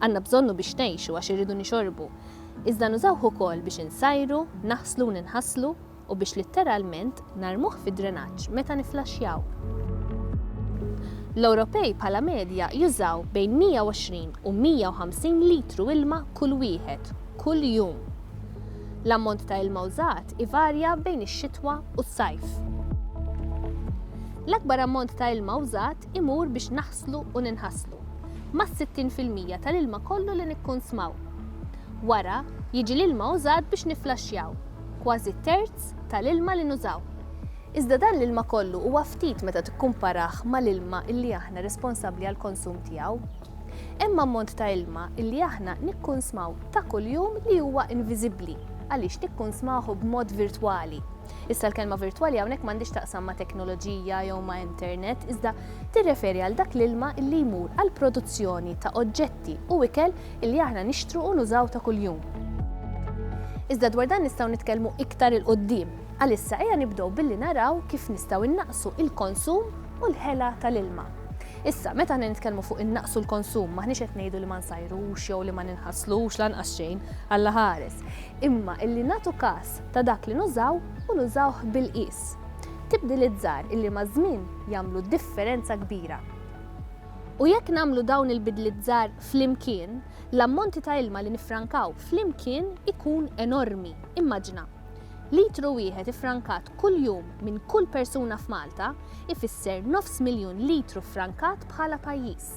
Għandna bżonnu biex ngħixu għax irridu nixorbu. Iżda nużawh ukoll biex insajru, naħslu u ninħaslu u biex litteralment narmuh fid-drenaġġ meta niflaxxjaw. L-Ewropej bħala medja jużaw bejn 120 u 150 litru ilma kull wieħed, kull jum. L-ammont ta' ilma użat ivarja bejn ix-xitwa u s-sajf. L-akbar ammont ta' ilma użat imur biex nfasslu u ninħaslu, mas-60 fil-mija tal-ilma kollu li nikkunsmaw. Wara, jiġi l-ilma użat biex nifflaxxjaw, kważi terz tal-ilma li nużaw. Iżda dan l-ilma kollu huwa ftit meta tikkumparah mal-ilma li aħna responsabbli għall-konsum tiegħu. Hemm ammont ta' ilma li aħna nikkunsmaw ta' kuljum li huwa inviżibbli għaliex nikkunsmahu b'mod virtwali. Issa l-kelma virtwali hawnhekk m'għandix taqsam ma' teknoloġija jew ma' internet, iżda tirreferi għal dak l-ilma li jmur għal produzzjoni ta' oġġetti u ikel li aħna nixtru u nużaw ta' kuljum. Iżda dwar dan nistgħu nitkellmu iktar 'il quddiem. Għalissa ejja nibdew billi naraw kif nistgħu innaqsu il-konsum u l-ħela tal-ilma. Issa, meta aħna nitkellmu fuq innaqsu l-konsum, maħniex qed ngħidu li ma nsajrux jew li ma ninħaslux lanqas xejn, Alla ħares. Imma illi nagħtu każ ta' dak li nużaw u nużawh bil-qies. Tibdiliet żgħar illi maż-żmien jagħmlu differenza kbira. U jekk nagħmlu dawn il-bidliet żgħar flimkien, l-ammonti ta' ilma li niffrankaw flimkien ikun enormi. Immaġina! Litru wieħed iffrankat kuljum minn kull persuna f'Malta ifisser nofs miljun litru ffrankat bħala pajjiż.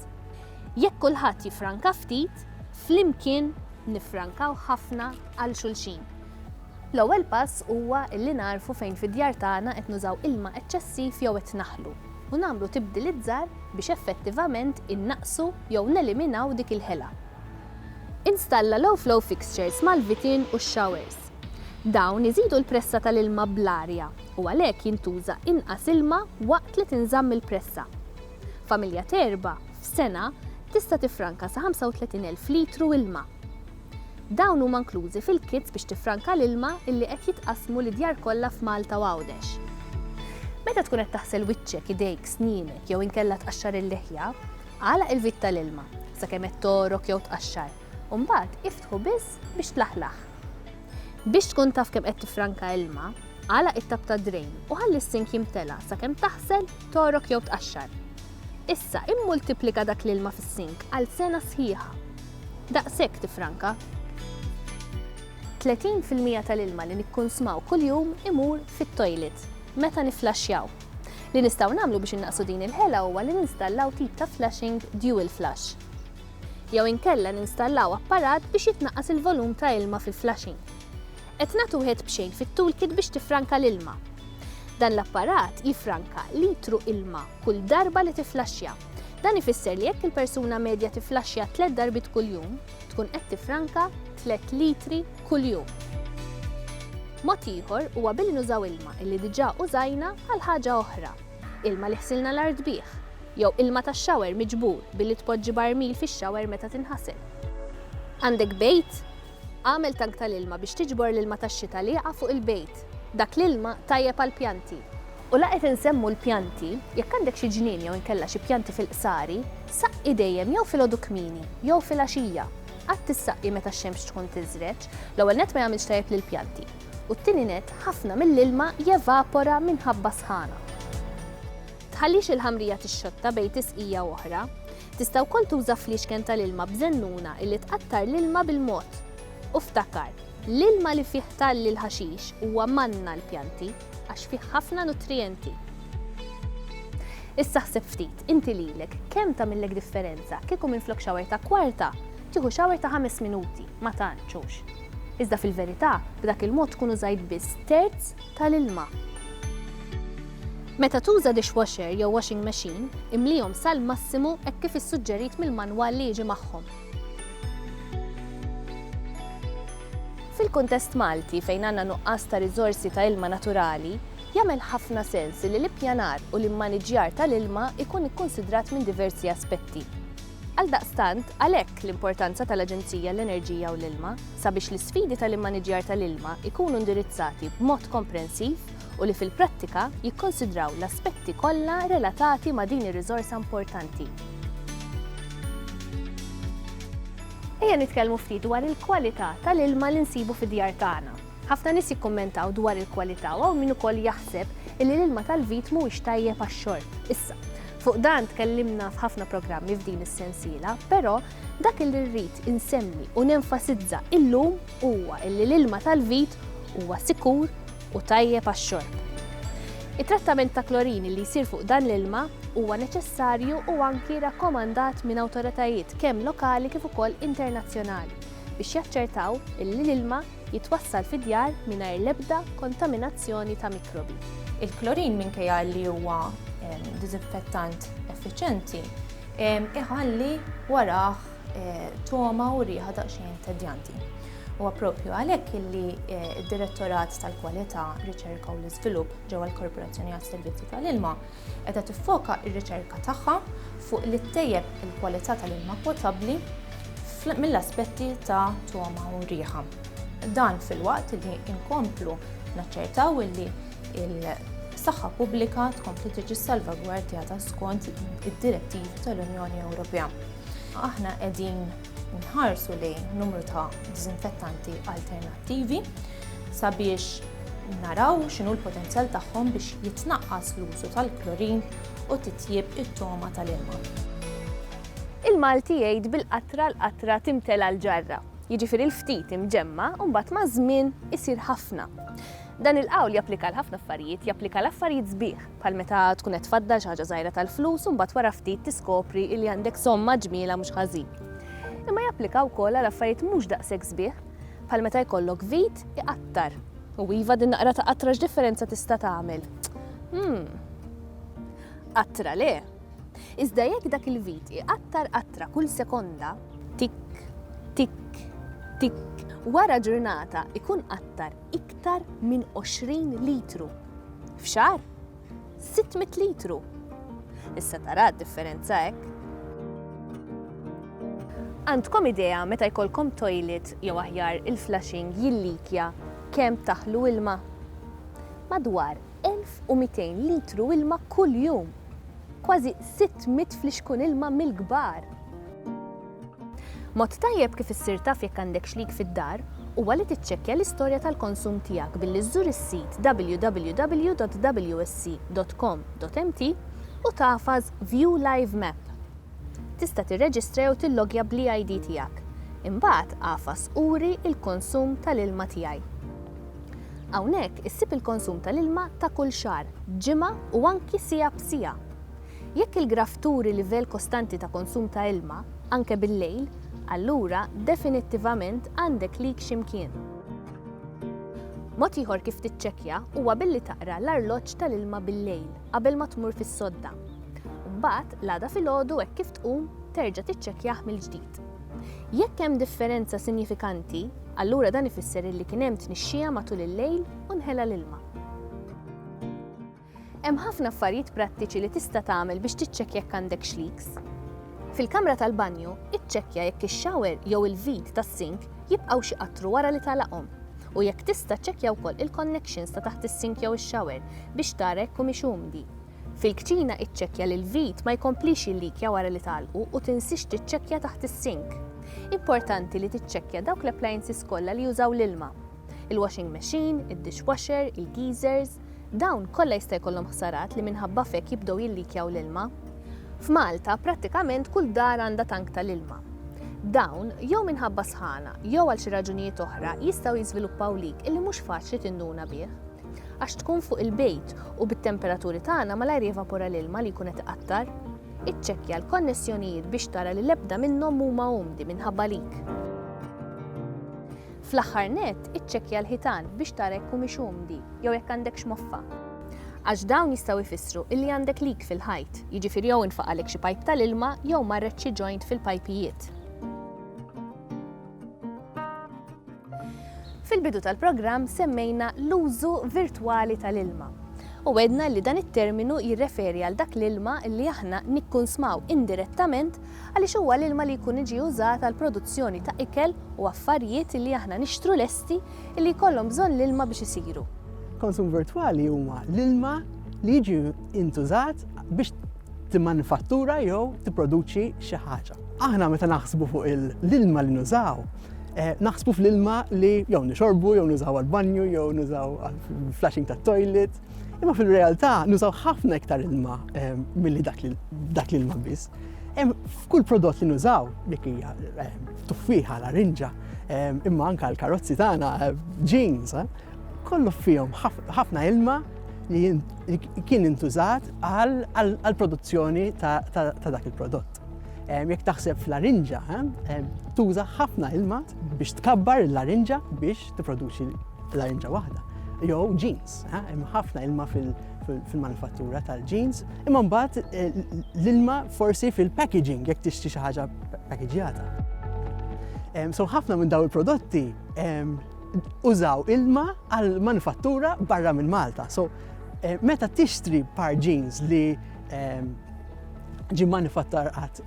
Jekk kulħadd jiffranka ftit, flimkien niffrankaw ħafna għal xulxin. L-ewwel pass huwa li nagħrfu fejn fid-djar tagħna qed nużaw ilma eċċessiv jew qed naħlu u nagħmlu tibdiliet żgħar biex effettivament innaqqsu jew neliminaw dik il-ħela. Installa l-O'Flow fixtures mal-vitin u x-xawers. Dawn iżidu l-pressa tal-ilma bl-arja u għalhekk jintuża inqas ilma waqt li tinżamm il-pressa. Familja t'erba', f'sena, tista' tiffranka sa 35,000 litru ilma. Dawn huma nklużi fil-kits biex tiffranka l-ilma illi qed jitqassmu lid-djar kollha f'Malta u Għawdex. Meta tkun qed taħsel wiċċek, idejk, snienek jew inkella tqaxxar il-liħja, agħlaq il-vit tal-ilma sakemm qed togħrok jew tqaxxar u mbagħad iftħu biss biex tlaħlaħ. Biex tkun taf kemm qed tiffranka ilma, agħlaq it-tapp tad-drejn u ħalli s-sink jimtela' sakemm taħsel, togħrok jew tqaxxar. Issa immultiplika dak l-ilma fis-sink għal sena sħiħa. Daqshekk tiffranka. Tletin fil-mija tal-ilma li nikkunsmaw kuljum imur fit-toilet meta nifflaxxjaw. Li nistgħu nagħmlu biex innaqqsu din il-ħela huwa li ninstallaw tip ta' flushing dual flush. Jew inkella ninstallaw apparat biex jitnaqqas il-volum ta' ilma fil-flushing. Qed nagħtu wieħed b'xejn fit-toolkit biex tiffranka l-ilma. Dan l-apparat jiffranka litru ilma kull darba li tifflaxxja. Dan ifisser li jekk il-persuna medja tifflaxxja tliet darbiet kuljum, tkun qed tiffranka tliet litri kuljum. Mod ieħor huwa billi nużaw ilma illi diġà użajna għal ħaġa oħra, ilma li ħsilna l-art bih, jew ilma tax-shower miġbur billi tpoġġi barmil fix-shower meta tinħasel. Għandek bejt? Agħmel tank tal-ilma biex tiġbor l-ilma tax-xita li jaqa' fuq il-bejt. Dak l-ilma tajjeb għall-pjanti. U la qed insemmu l-pjanti, jekk għandek xi ġnien jew inkella xi pjanti fil-qsari, saqqi dejjem jew filgħodu kmieni jew filgħaxija. Qatt issaqqi meta x-xemx tkun tiżreġ, l-ewwel nett ma jagħmilx tajjeb lill-pjanti, u t-tieni nett ħafna mill-ilma jevapora minħabba s-sħana. Tħallix il-ħamrija tixxotta bejn tisqija u oħra. Tista' wkoll tuża fliexken tal-ilma b'żennuna illi tqattar l-ilma bil-mod. U ftakar, l-ilma li fih talli l-ħaxix huwa manna għall-pjanti. għax fih ħafna nutrijenti. Issa ħseb ftit, inti lilek, kemm tagħmillek differenza kieku minflok xawer ta' kwarta, tieħu xawer ta' ħames minuti, ma tantxux. Iżda fil-verità, b'dak il-mod tkun użajt biss terz tal-ilma. Meta tuża dishwasher jew washing machine, imlihom sal-massimu hekk kif issuġġerit mill-manwal li jiġi magħhom. Fil-kuntest Malti, fejn għandna nuqqas ta' riżorsi ta' ilma naturali, jagħmel ħafna sens li l-ippjanar u l-immaniġġjar tal-ilma jkun ikkunsidrat minn diversi aspetti. Għaldaqstant, għalhekk l-importanza tal-Aġenzija għall-Enerġija u l-Ilma, sabiex l-isfidi tal-immaniġġjar tal-ilma jkunu indirizzati b'mod komprensiv u li fil-prattika jikkonsidraw l-aspetti kollha relatati ma' din ir-riżorsa importanti. Ejja nitkellmu ftit dwar il-kwalità tal-ilma li nsibu fid-djar tagħna. Ħafna nies jikkummentaw dwar il-kwalità u hawn min ukoll jaħseb illi l-ilma tal-vit mhuwiex tajjeb għax-xorb. Issa, fuq dan tkellimna f'ħafna programmi f'din is-sensiela, però dak li rrid insemmi u nenfasizza illum huwa illi l-ilma tal-vit huwa sikur, u tajjeb għax-xorb. It-trattament ta' klorini li jsir fuq dan l-ilma huwa neċessarju u anki rakkomandat minn awtoritajiet kemm lokali kif ukoll internazzjonali biex jaċċertaw li l-ilma jitwassal fid-djar mingħajr l-ebda kontaminazzjoni ta' mikrobi. Il-klorin minkejja li huwa diżinfettant effiċjenti, iħalli warah togħma u riħa daqsxejn tedjanti. Huwa proprju għalhekk illi d-Direttorat tal-Kwalità, Riċerka u l-Iżvilupp ġewwa l-Korporazzjoni għas-Servizzi tal-Ilma qiegħda tiffoka r-riċerka tagħha fuq li ttejjeb il-kwalità tal-ilma potabbli mill-aspetti ta' togħma u riħa. Dan filwaqt li nkomplu naċċertaw illi l-saħħa pubblika tkompli tiġi salvagwardjata skont id-direttivi tal-Unjoni Ewropea. Aħna qegħdin Nħarsu lejn numru ta' diżinfettanti alternattivi sabiex naraw x'inhu l-potenzjal tagħhom biex jitnaqqas l-użu tal-klorin u titjieb it-togħma tal-ilma. Il-Malti jgħid bil-qatra l-qatra timtela l-ġarra, jiġifieri l-ftit imġemma' u mbagħad maż-żmien isir ħafna. Dan il-qawl japplika għal ħafna affarijiet, japplika għal affarijiet sbieħ. bħal meta tkun qed tfaddal xi ħaġa żgħira tal-flus u mbagħad wara ftit tiskopri li għandek somma ġmielha mhux ħażin. Imma japplika wkoll għal affarijiet mhux daqshekk sbieħ, bħal meta jkollok vit iqattar. U iva din naqra ta' qatra x'differenza tista' tagħmel? Hmm. Qatra le. Iżda jekk dak il-vit iqattar qatra kull sekonda, tik, tik, tik, wara ġurnata ikun qattar iktar minn 20 litru. F'xahar, 600 litru. Issa tara d-differenza hekk. Għandkom idea meta jkollkom toilet jew aħjar il-flushing jillikja kemm taħlu ilma? Madwar 1200 litru ilma kuljum! Kważi 600 flixkun ilma mill-kbar! Mod tajjeb kif issir taf jekk għandek xlig fid-dar huwa li tiċċekkja l-istorja tal-konsum tiegħek billi żżur is-sit www.wsc.com.mt u tagħfas View Live Map. Tista' tirreġistra jew tilloggja bl-e-ID tiegħek. Imbagħad agħfas Uri l-konsum tal-ilma tiegħi. Hawnhekk issib il-konsum tal-ilma ta' kull xahar, ġimgħa u anki siegħa b'siegħa. Jekk il-graff turi livell kostanti ta' konsum ta' ilma, anke bil-lejl, allura definittivament għandek leak xi mkien. Mod ieħor kif tiċċekkja huwa billi taqra l-arloġġ tal-ilma bil-lejl qabel ma tmur fis-sodda. Mbagħad, l-għada filgħodu hekk kif tqum, terġa' tiċċekkjah mill-ġdid. Jekk hemm differenza sinjifikanti, allura dan ifisser illi kien hemm tnixxija matul il-lejl u nħela l-ilma. Hemm ħafna affarijiet prattiċi li tista' tagħmel biex tiċċekkja jekk għandekx leaks. Fil-kamra tal-banju, iċċekkja jekk ix-shower jew il-vit tas-sink jibqgħux iqattru wara li tagħlaqhom. U jekk tista' ċċekkja wkoll il-connections ta' taħt is-sink jew ix-shower biex tara jekk humiex umdi. Fil-kċina iċċekkja li l-vit ma jkomplix jillikja wara li tagħlqu u tinsiex tiċċekkja taħt is-sink. Importanti li tiċċekkja dawk l-appliances kollha li jużaw l-ilma. Il-washing machine, id-dishwasher, il-geezers, dawn kollha jista' jkollhom ħsarat li minħabba f'hekk jibdew jillikjaw l-ilma. F'Malta, prattikament kull dar għandha tank tal-ilma. Dawn, jew minħabba sħana, jew għal xi raġunijiet oħra, jistgħu jiżviluppaw leak illi mhux faċli tinduna bih. Għax tkun fuq il-bejt u bit-temperaturi tagħna malajr jevapora l-ilma li jkun qed iqattar. Iċċekkja l-konnessjonijiet biex tara li l-ebda minnhom huma umdi minħabba leak. Fl-aħħar nett, iċċekkja l-ħitan biex tara jekk humiex umdi jew jekk għandekx moffa. Għax dawn jistgħu jfissru illi għandek leak fil-ħajt, jiġifieri jew intfaq għalek xi pajp tal-ilma jew marret xi joint fil-pajpijiet. Fil-bidu tal-programm semmejna l-użu virtwali tal-ilma u għedna li dan it-terminu jirreferi għal dak l-ilma li aħna nikkunsmaw indirettament għaliex huwa l-ilma li jkun iġi użat għall-produzzjoni ta' ikel u affarijiet illi aħna nixtru lesti illi jkollhom bżonn l-ilma biex isiru. Konsum virtwali huma l-ilma li jiġi intużat biex timmanifattura jew tipproduċi xi ħaġa. Aħna meta naħsbu fuq l-ilma li nużaw, naħsbu fl-ilma li jew nixorbu, jew nużaw għall-banju, jew nużaw għall-flushing tat-toilet, Imma fil-realtà nużaw ħafna iktar ilma ehm, milli dak l-ilma biss. Ehm, f'kull prodott li nużaw, dik hija ehm, tuffiħa, larinġa, imma anka l-karozzi tagħna, jeans, eh, kollu fihom ħafna ilma li kien intużat għal produzzjoni ta' dak il-prodott. Jekk taħseb fl-larinġa, tuża ħafna ilma biex tkabbar l-larinġa biex tipproduċi larinġa waħda jew jeans. Hemm ħafna ilma fil-manifattura tal-jeans, imma mbagħad eh, l-ilma forsi fil-packaging jekk tixtri xi ħaġa packagġjata. So ħafna minn daw il-prodotti użaw ilma għal manifattura barra minn Malta. So eh, meta tixtri par jeans li ġi manifattar għat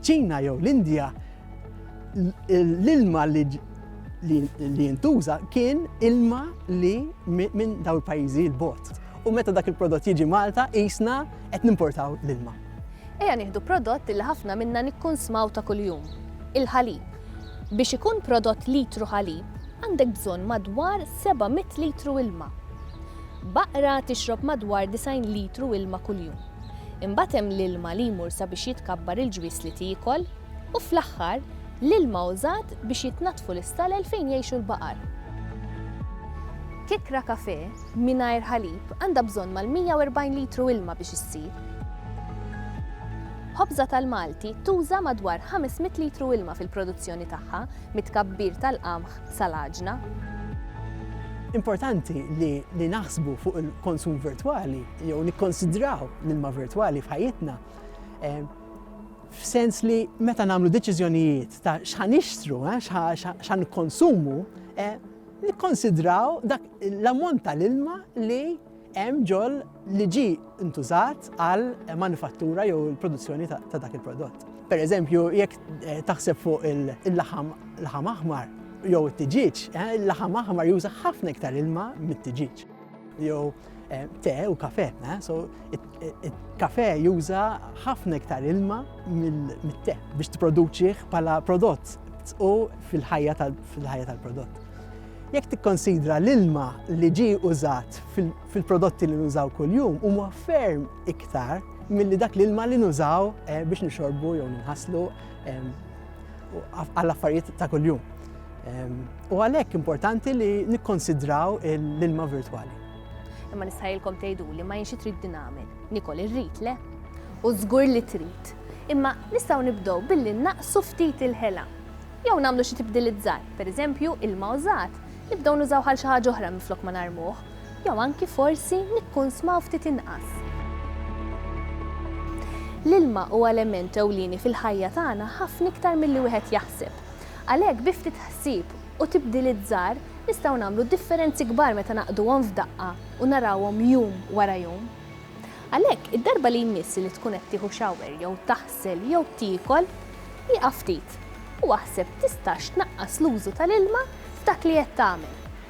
ċina jew l-Indja, l-ilma li li jintuża kien ilma li minn daw il-pajjiżi l-bot. U meta dak il-prodott jiġi Malta, jisna qed nimportaw l-ilma. Eja nieħdu prodott li ħafna minna nikkunsmaw ta' kuljum, il-ħalib. Biex ikun prodott litru ħalib, għandek bżonn madwar 700 litru ilma. Baqra tixrob madwar 90 litru ilma kuljum. Imbagħad hemm l-ilma li jmur sabiex jitkabbar il-ġwież li tiekol, U fl-aħħar, l-ilma użat biex jitnaddfu l-istalel fejn jgħixu l-baqar. Kikkra kafè mingħajr ħalib għandha bżonn mal-140 litru ilma biex issir. Ħobża tal-Malti tuża madwar 500 litru ilma fil-produzzjoni tagħha, mit-tkabbir tal-qamħ sal-għaġna. Importanti li naħsbu fuq il-konsum virtwali jew nikkonsidraw l-ilma virtwali f'ħajjitna. f'sens li meta nagħmlu deċiżjonijiet ta' x'ħa nixtru, eh, x'ħa nikkonsumu, eh, nikkonsidraw dak l-ammont tal-ilma li hemm ġol li ġi intużat għal manifattura jew il-produzzjoni ta' dak il-prodott. Per eżempju, jekk eh, taħseb fuq il-laħam laħam aħmar jew it-tiġiġ, eh, il-laħam aħmar juża ħafna iktar ilma mit-tiġiġ. jew eh, te u kafe, eh? so il-kafe juża ħafna iktar ilma mill-te biex t-produċiħ pala prodott u fil-ħajja tal-prodott. Jekk tikkonsidra l-ilma li ġi użat fil-prodotti li nużaw kuljum huma ferm iktar milli dak l-ilma li nużaw eh, biex nixorbu jew nħaslu u għall-affarijiet ta' kuljum. U għalhekk importanti li nikkonsidraw l-ilma virtwali. Imma nistħajilkom tgħidu li ma jinxi trid dinamil. Nikol irrid le? U żgur li trid. Imma nistgħu nibdew billi naqsu ftit il-ħela. Jew nagħmlu xi tibdilizzar, pereżempju ilma użat, nibdew nużaw għal xi ħaġa oħra minflok ma narmuh. Jew anki forsi nikkunsmaw ftit inqas. L-ilma huwa element ewlieni fil-ħajja tagħna ħafna iktar milli wieħed jaħseb. Għalhekk bi ftit ħsieb u tibdiliet żgħar nistgħu nagħmlu differenzi kbar meta naqduhom f'daqqa u narawhom jum wara jum. Għalhekk, id-darba li jmiss li tkun qed tieħu shower jew taħsel jew tiekol, ieqaf ftit u aħseb tistax tnaqqas l-użu tal-ilma f'dak li qed tagħmel.